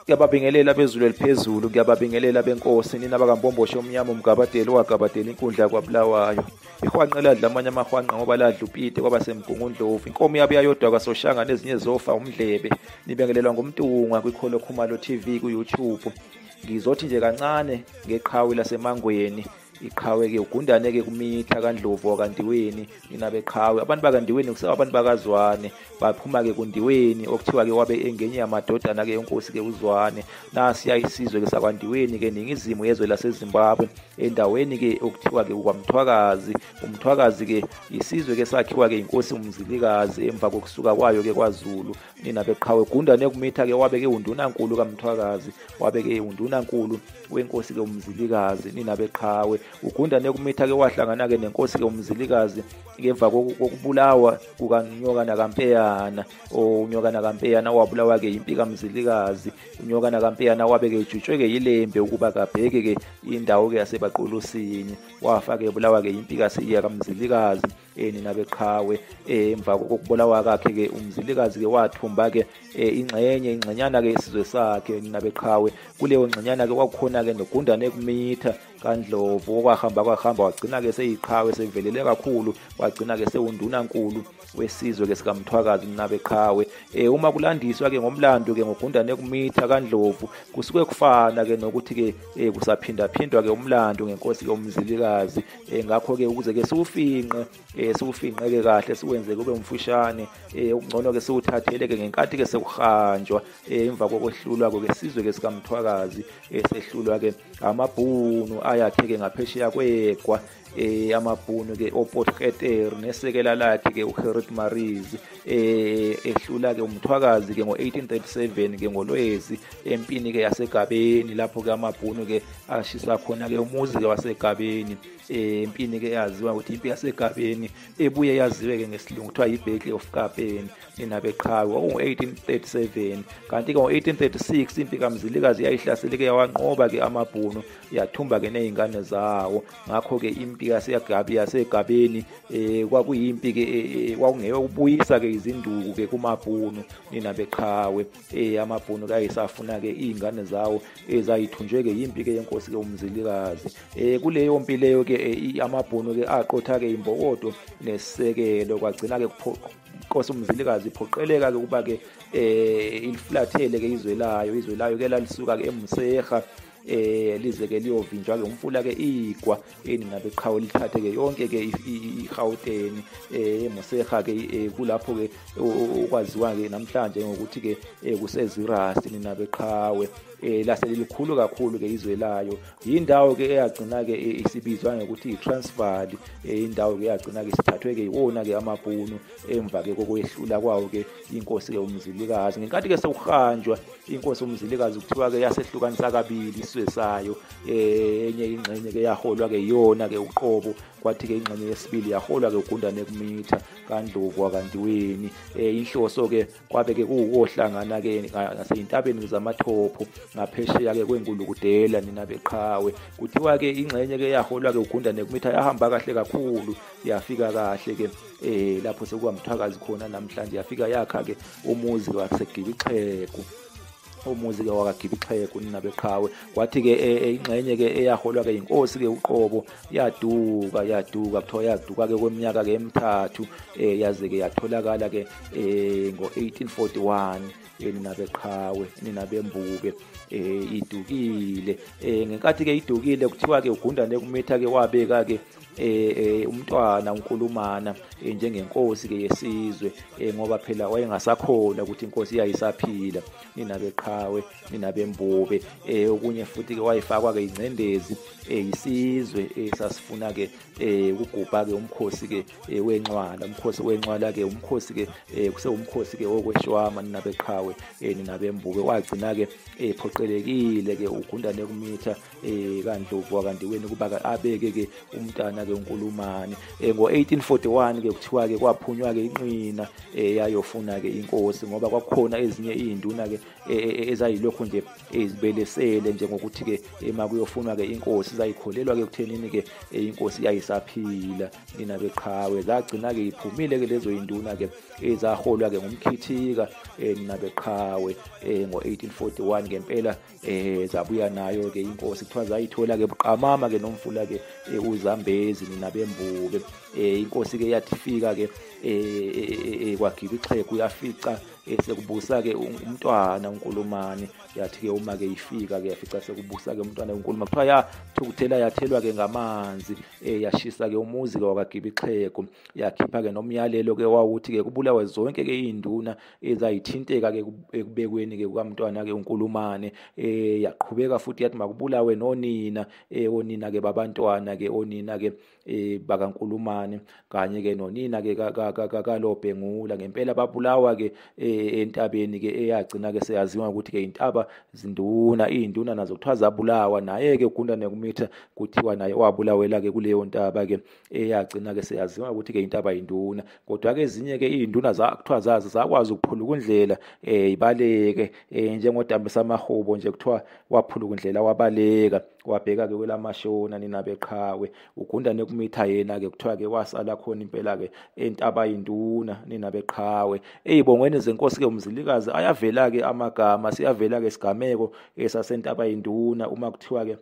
Ngiyababingelela bezulu eliphezulu, ngiyababingelela benkosi, nina bakambomboshe omnyama umgabadeli owagabadela inkundla kwaBulawayo. Ihwanqe ladla amanye amahwanqa ngoba ladla upite kwaba semgungundlovu. Inkomo yabe yayodwa kwasoshanga nezinye zofa umdlebe. Nibengelelwa ngumtungwa kwikholo Khumalo TV ku-YouTube. Ngizothi nje kancane ngeqhawe lasemangweni iqhawe-ke ugundane-ke kumitha kandlovu wakandiweni nina beqhawe abantu bakandiweni kusewa abantu bakazwane baphuma-ke kundiweni okuthiwa-ke wabe engenye yamadodana-ke enkosi-ke uzwane nasiya isizwe-ke sakwandiweni-ke ningizimu yezwe lasezimbabwe endaweni-ke okuthiwa-ke ukwamthwakazi umthwakazi-ke isizwe-ke sakhiwa-ke inkosi umzilikazi emva kokusuka kwayo-ke kwazulu nina beqhawe gundane kumitha ke wabeke undunankulu kamthwakazi wabeke undunankulu wenkosi ke umzilikazi nina beqhawe ugundane kumitha ke wahlangana ke nenkosi ke umzilikazi ngemva kokubulawa kukanyokana kampeyana unyokana kampeyana wabulawa ke impi kamzilikazi unyokana kampeyana wabe ke ejutshwe ke yilembe ukuba kabheke ke indawo ke yasebaqulusini wafa ke ebulawa ke impi kasiya kamzilikazi eh nina beqhawe eh emva kokubulawa kakhe ke umzilikazi ke wathumba ke eh, ingxenye ingxenyana ke isizwe sakhe nina beqhawe kuleyo ngxenyana ke kwakukhona ke nogundane kumitha kaNdlovu okwahamba kwahamba wagcina ke seyiqhawe sevelele kakhulu wagcina ke sewundunankulu wesizwe ke sikamthwakazi nina beqhawe eh uma kulandiswa ke ngomlando ke ngogundane kumitha kaNdlovu kusuke kufana ke nokuthi ke eh, kusaphinda phindwa ke umlando ngenkosi ke umzilikazi um ngakho-ke ukuze-ke siwufinqe um siwufinqeke kahle siwenze kube umfushane um okungcono-ke siwuthathele-ke ngenkathi-ke sekuhanjwa um emva kokwehlulwa-ke sizwe-ke sikamthwakazi um sehlulwa-ke amabhunu ayakhe-ke ngaphesheya kwegwa um amabhunu-ke opotketer nesekela lakhe-ke uherit marise eh ehlula ke umthwakazi ke ngo1837 ke ngolwezi empini ke yasegabeni lapho ke amabhunu ke ashisa khona ke umuzi ke wasegabeni eh, empini ke yaziwa ukuthi impi yasegabeni ebuye yaziwe ke ngesilungu kuthiwa yiBattle of Kapeni enabeqhawe ngo1837 kanti ke ngo1836 impi kaMzilikazi yayihlasele ke yawanqoba ke amabhunu yathumba ke nezingane zawo ngakho-ke impi yasegabi yasegabeni um kwakuyimpi-ke e, e, e, kwakungeyo ukubuyisa-ke izinduku-ke kumabhunu nina beqhawe um amabhunu kayisafuna-ke iy'ngane zawo ezayithunjwe-ke yimpi-ke yenkosi-ke umzilikazi um kuleyo mpi leyo-ke amabhunu-ke aqotha-ke imbokodo nesekelo kwagcina-ke inkosi umzilikazi iphoqeleka-ke ukuba-ke um ilifulathele-ke izwe layo izwe layo-ke lalisuka-ke emuseha eh lize ke liyovinjwa ke umfula ke igwa eningabe qhawe lithathe ke yonke ke iGauteng eh Moseha ke eh, kulapho ke okwaziwa ke namhlanje ngokuthi ke eh, kuseZiras ninabe qhawe eh lase lilikhulu kakhulu ke izwe layo yindawo ke eyagcina ke eh, isibizwa ngokuthi iTransvaal indawo ke yagcina ke sithathwe ke iwona ke amabhunu emva ke kokwehlula kwawo ke inkosi ke umzilikazi ngenkathi ke sewuhanjwa inkosi umzilikazi kuthiwa ke yasehlukanisa kabili isizwe sayo eh, enye ingxenye ke yaholwa ke yona ke uqobo kwathi ke ingxenye yesibili yaholwa ke ugundane kumitha kandlovu akandiweni eh, inhloso ke kwabe ke kuwohlangana ke ngaseyintabeni zamathopho ngaphesheya ke kwengulukudela nina beqhawe kuthiwa ke ingxenye ke yaholwa ke ugundane kumitha yahamba kahle kakhulu yafika kahle ke eh lapho sekuba mthwakazi khona namhlanje yafika yakha ke umuzi wasegibixheku umuzi-ke wakagibixheku ninabeqhawe kwathi-ke e, e, ingxenye-ke eyaholwa-ke yinkosi-ke uqobo yaduka yaduka kuthiwa yaduka-ke kweminyaka-ke emithathu um yaze-ke yatholakala-ke um ngo-eighteen forty one ninabeqhawe ninabembube um idukile um ngenkathi-ke idukile kuthiwa-ke ugundane kumitha-ke wabeka-ke eh, eh umntwana unkulumana eh, njengenkosi ke yesizwe eh, ngoba phela wayengasakhona ukuthi inkosi iyayisaphila nina beqhawe nina bembube eh okunye futhi ke wayifakwa ke ingcendezi eh isizwe eh, sasifuna ke eh ukugubha ke umkhosi ke eh, wenxwala umkhosi wenxwala ke umkhosi ke eh, kuse umkhosi ke okweshwama nina beqhawe eh, nina bembube wagcina ke ephoqelekile eh, ke ugundane kumitha eh kandlovu kanti wena kuba abeke ke umntana ke uNkulumane eh ngo1841 ke kuthiwa ke kwaphunywa ke inqina eh yayofuna ke inkosi ngoba kwakukhona ezinye izinduna ke eh, eh, eh, ezayilokho nje ezibelesele njengokuthi ke ema kuyofunwa ke inkosi zayikholelwa ke kuthenini ke inkosi yayisaphila nina beqhawe zagcina ke iphumile ke lezo induna ke ezaholwa ke ngumkhithika nina beqhawe ngo1841 ngempela eh zabuya nayo ke inkosi kuthiwa zayithola ke buqamama ke nomfula ke eh, uzambezi nina bembuke eh inkosi ke yathifika ke eh, eh, eh kwagiba ixhegu yafica sekubusa ke umntwana unkulumane yathi ke uma ke ifika ke yafica sekubusa ke umntwana unkuluma kuthiwa ya thukuthela yathelwa ke ngamanzi eh yashisa ke umuzi ke wakagiba ixhegu yakhipha ke nomyalelo ke wawuthi ke kubulawe zonke ke induna ezayithinteka-ke ekubekweni-ke kukamntwana-ke unkulumane um eh, yaqhubeka futhi yathi makubulawe nonina um onina-ke babantwana-ke onina-ke um bakankulumane kanye-ke nonina-ke kalobhengula ngempela babulawa-ke um entabeni-ke eyagcina-ke seyaziwa ukuthi-ke intaba zinduna iy'nduna nazo kuthiwa zabulawa naye-ke ugundane kumitha kuthiwa naye wabulawela-ke kuleyo ntaba-ke eyagcina ke seyaziwa ukuthi ke intaba induna kodwa ke ezinye ke izinduna zakuthiwa zazi zakwazi ukuphuluka indlela eh ibaleke eh njengodambisa amahubo nje kuthiwa waphuluka indlela wabaleka wabheka ke kwelamashona nina beqhawe ugunda nekumitha yena ke kuthiwa ke wasala khona impela ke entaba induna nina beqhawe eyibongweni zenkosi ke umzilikazi ayavela ke amagama siyavela ke isigameko esasentaba induna uma kuthiwa ke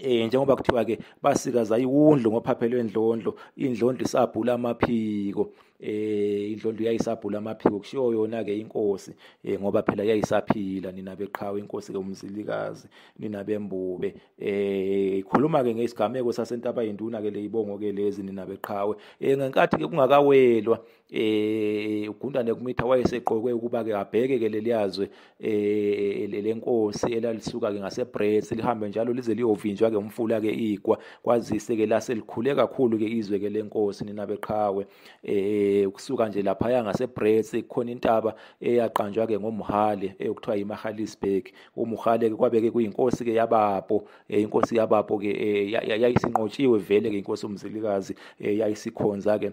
eh njengoba kuthiwa ke basikaza iwundlu ngophaphelwe indlondlo indlondlo isabhula amaphiko eh indlondlo yayisabhula amaphiko kushiyo yona ke inkosi eh ngoba phela yayisaphila nina beqhawe inkosi ke umzilikazi nina bembube eh ikhuluma ke ngesigameko sasentaba induna ke leyibongo ke lezi nina beqhawe eh ngenkathi ke kungakawelwa eh ugundane kumitha wayeseqokwe ukuba ke abheke ke leliyazwe eh lenkosi elalisuka ke ngaseBrits lihambe njalo lize liyovinjwa ke umfula ke igwa kwazise ke lase likhule kakhulu ke izwe ke lenkosi nina beqhawe eh kusuka nje lapha ya ngaseBrits kukhona intaba eyaqanjwa ke ngoMhale eyokuthiwa eh, iMahalisburg uMhale ke kwabeke kuyinkosi ke yabapo eh, inkosi yabapo ke eh, yayisinqotshiwe vele ke inkosi umzilikazi yayisikhonza ke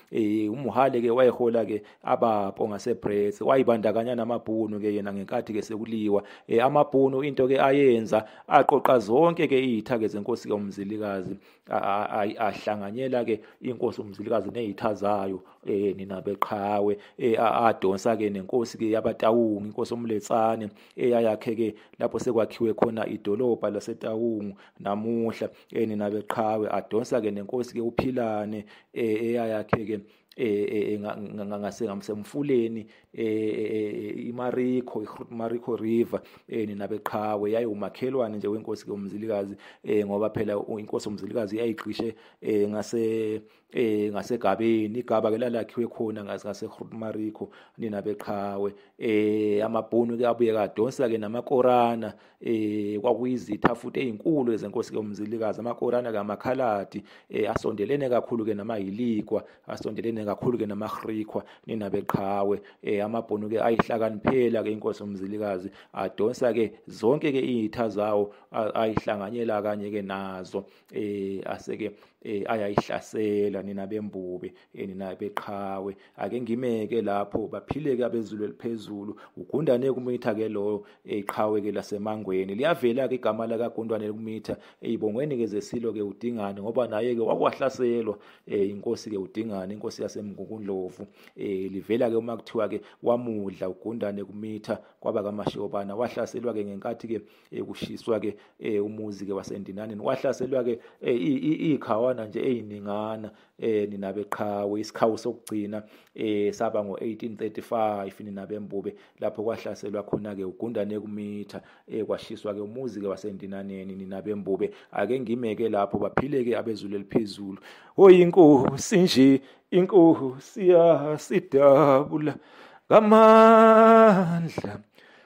eh umuhale ke wayehola ke abapo ngaseBrits wayibandakanya namabhunu ke yena ngenkathi ke sekuliwa eh amabhunu into ke ayenza aqoqa zonke ke izitha ke zenkosi ke umzilikazi ahlanganyela ke inkosi umzilikazi nezitha zayo eh nina beqhawe eh adonsa ke nenkosi ke yabatawungu inkosi omletsane eyayakhe ke lapho sekwakhiwe khona idolobha lasetawungu namuhla eh nina beqhawe adonsa ke nenkosi ke uphilane eh eyayakhe ke eh ngase ngamsemfuleni eh imariko imariko river eh nina beqhawe yayi umakhelwane nje wenkosi ke umzilikazi eh ngoba phela inkosi umzilikazi yayigqishe eh ngase eh ngasegabeni igaba ke lalakhiwe khona ngase Mariko nina beqhawe eh amabhunu ke abuye kadonsa ke namakorana eh kwakuyizitha futhi ezinkulu ezenkosi ke umzilikazi amakorana kamakhaladi eh asondelene kakhulu ke namahilikwa asondelene kakhulu ke namahrikwa nina beqhawe eh amabhunu ke ayihlakaniphela ke inkosi umzilikazi adonsa ke zonke ke izitha zawo ayihlanganyela kanye ke nazo eh aseke eh ayayihlasela nina bembubi eh, nina beqhawe ake ngimeke lapho baphileke abezulu eliphezulu ugundane kumitha ke loyo eqhawe eh, ke lasemangweni liyavela ke igama la kagundwane kumitha eyibongweni eh, ke zesilo ke udingane ngoba naye ke wakwahlaselwa eh inkosi ke udingane inkosi yasemngukundlovu eh livela ke uma kuthiwa ke wamudla ugundane kumitha kwaba kamashobana wahlaselwa ke ngenkathi ke eh, kushiswa ke eh, umuzi ke wasendinaneni wahlaselwa ke eh, ikhawana nje eziningana eh ninabe qhawe isikhawu sokugcina eh saba ngo1835 ninabe mbube lapho kwahlaselwa khona ke ugundane kumitha eh kwashiswa ke umuzi ke wasendinaneni ninabe mbube ake ngimeke lapho baphile ke abezulu eliphezulu oyinkosi nje inkosi yasidabula ngamandla